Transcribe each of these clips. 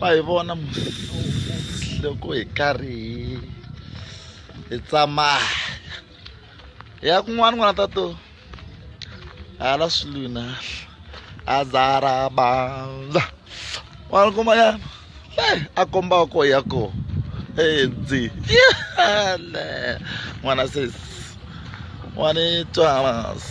va hi vona loko hi karhi hi hi tsamaya ya kun'wana n'wana ta to hala swilwini azarabandla n'wana kun'wanyana a kombaka ko ya ko edzi yale n'wana sesi n'wana twanasi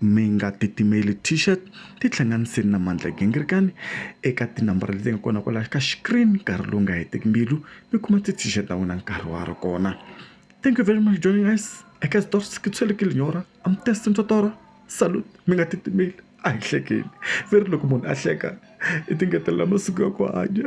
Mi nga titimeli t-shirt ti hlanganiseni na Mandla Gingirikani eka tinambara leti nga kona kwalaho ka screen nkarhi lowu nga hetiki mbilu mi kuma ti t-shirt ta n'wina nkarhi wa ha ri kona thank you very much joining us eka xitori se kitshwele ki linyora a mi test ni totoro salute mi nga titimeli a hi hlekeni ve ri loko munhu a hleka i ti ngetelela masiku ya ku hanya.